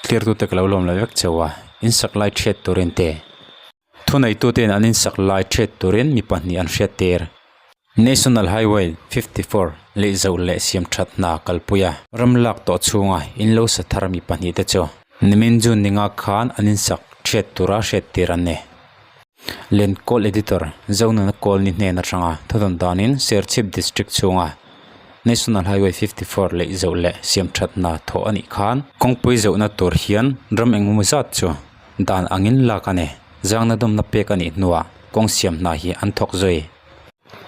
Thlir tute ka lo lawm lo vek cheu a, in sak lai ṭhiat turin te. Thuneihtute'n an in sak lai ṭhiat turin mi pahnih an hriat tir. National Highway fifty four leih zauh leh siam ṭhat hna kalpuia ram lak tawh chhunga in lo sa thar mi pahnihte chu nimin June ni nga khan an in sak ṭhiat tura hriat tir an ni. Len Kawl Editor, Zaununa Kawl ni hnen atanga thutawn danin Serchhip District chhunga National Highway fifty four leih zoh leh siam that hna thawh a nih khan, kawngpui zohna tur hian ram engemaw zat chu dan angin lak a ni, zangna dawmna pek a nih hnuah kawng siam hna hi an thawk zui.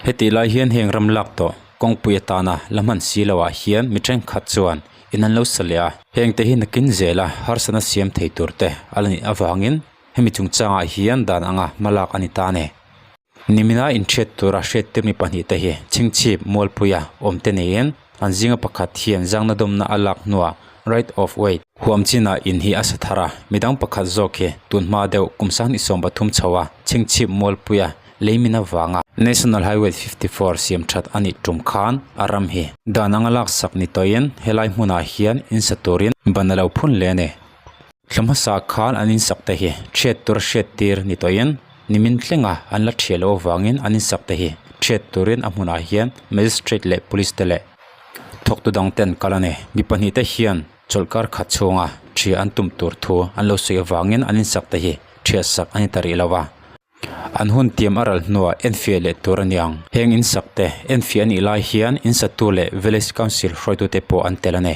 Hetih lai hian heng ram lak tawh kawngpui atana la hman si lo ah hian mi thenkhat chuan in an lo sa leh a, hengte hi nakin zela harsatna siam thei turte a la nih avangin hemi chungchangah hian dan anga hma lak a ni ta ni. Nimina inthiat tura hriattir mi pahnih te hi chhingchhip mualpuia awmte neiin an zinga pakhat hian zangna dawmna a lak hnuah right of way huam china in hi a sa thar a, midang pakhat zawk hi tunhma deuh kum sang hnisawm pathum chho a chhingchhip mualpuia leimin avanga. National Highway fifty four siam that a nih tum khan a ram hi. Dan anga laksak ni tawhin helai hmunah hian in sa turin ban a lo phun hle a ni. Thla hmasa khan an insak te hi hriat tur hriat tir ni tawhin nimin tlenga an la ṭhiah loh avangin an insak te hi ṭhiat turin a hmunah hian Magistrate leh Police te leh thawktu dang ten kal a ni. Mi pahnih te hian chawlhkar khat chhunga ṭhia an tum tur thu an lo sawi avangin an insak te hi ṭhia sak a ni ta rih lo a. An hun tiam a ral hnu a enfiah leh tur a ni ang. Heng insak te enfiah a nih lai hian insatu leh Village Council hruaitute pawh an tel a ni.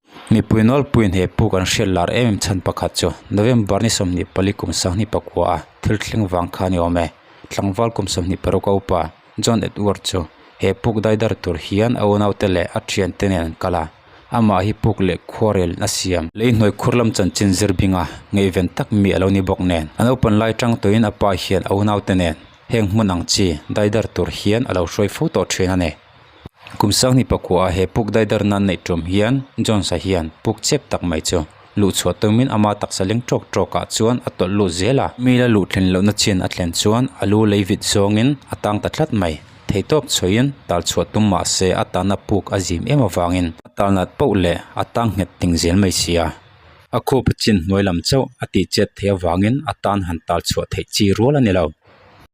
Mipui nawlpui hne pu kan hriat lar em em chhan pakhat chu November ni sawmhnih pali kum sanghni pakua a thil thleng vang kha ni awm e. Tlangval kum sawmhnih paruk a upa John Edward chu he puk dai dar tur hian a unaute leh a thiante nen an kal a, amah hi puk leh khuarelin a siam. Lei hnuai khur lam chanchin zir binga ngaihven tak mi a lo ni bawk nen a naupan lai chang tawhin apa hian a unaute nen heng hmun ang chi dai dar tur hian a lo hruai fo tawh thin a ni. Kum sanghnih pakuaah he puk daidar nan neih ṭawm hian Jones-a hian puk chep tak mai chu luh chhuah tawngin ama taksa leng ṭawk ṭawkah chuan a tawlh lut zel a. Mil a luh thlen lohna chian a thlen chuan a lu lei vit zawngin a tang ta tlat mai. Theitawp chhuahin tal chhuah tum mah se a tana puk a zim em avangin a tal nat pauh leh a tang nghet ting zel mai si a. A khup a chin hnuai lam chauh a ti chet theih avangin a tan han tal chhuah theih chi rual a ni lo.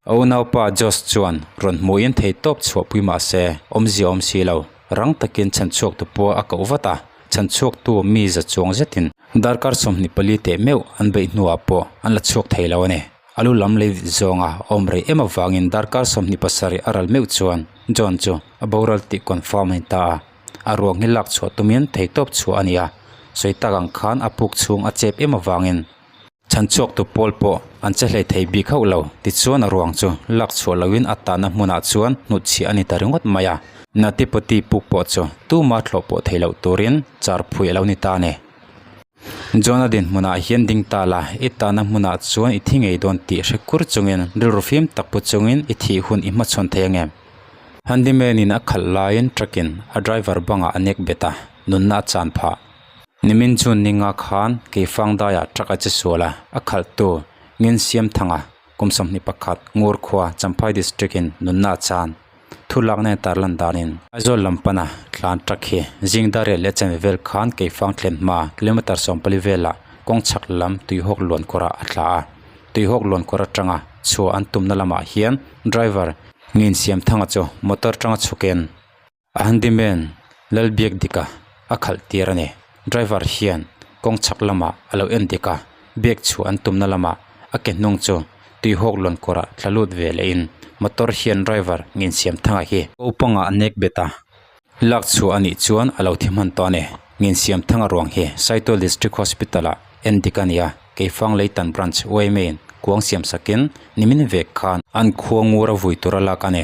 A unaupa Josh chuan rawn hmuhin thei tawp chhuah pui mah se, awmzia awm si lo, rang takin chhanchhuaktu pua a koh vat a, chhanchhuaktu mi za chuang zetin darkar sawmhnih pali teh meuh an beih hnuah pawh an la chhuak thei lo a ni. A lu lam lei vit zawnga awm rei em avangin darkar sawmhnih pasarih a ral meuh chuan John chu a boral tih confirm a ni ta a, a ruak hi lak chhuah tumin thei tawp chhuah a ni a, sawi tak ang khan a puk chhung a chep em avangin, Chhanchhuaktu pawl pawh an che hlei thei bik hauh lo. Tichuan a ruang chu lak chhuah loin a tahna hmunah chuan hnutchhia a ni ta ringawt mai a. Natipati Puk pawh chu tuma thlawh pawh thei loh turin char phui a lo ni ta ni. John a din hmunah hian ding ta la, i tahna hmunah chuan i thi ngei dawn tih hre kur chungin rilru fim tak pu chungin i thih hun i hmachhawn thei ange? Handyman-in a khalh laiin truck-in a driver bangah a nek bet a, nunna a chan phah. Nimin chu ninga khan kei fangdaiah truck a che sual a, a khalhtu Ngin Siamthanga kum sawmhnih pakhat ngur khua Champhai District in nunna a chan. Thu lakna in tar lan danin. Aizawl lam pana tlan truck hi Zingdariah leh Chenve vel khan kei fang thlen hma kilometre sawm pali velah kawng chhak lam Tuihawk luan kawrah a thlah a. Tuihawk luan kawr atanga chhuah an tumna lamah hian driver Ngin Siamthanga chu motor tanga chhukin A handyman lal biak dik a, a khalh tir a ni. Driver hian kawng chhak lamah a lo en dik a, biak chhuah an tumna lamah a ke hnung chu tuihawk lawn kawrah thla lut ve lehin motor hian driver ngin siam thanga hi ko panga a nek bet a, lak chhuah a nih chuan a lo thi hman tawh a ni. Ngin siam thanga ruang hi Saitawl District Hospital-ah en dik a ni a, Keifang Leitan Branch OMA-in kuang siam sakin nimin vek khan an khuangur a vui tur a lak a ni.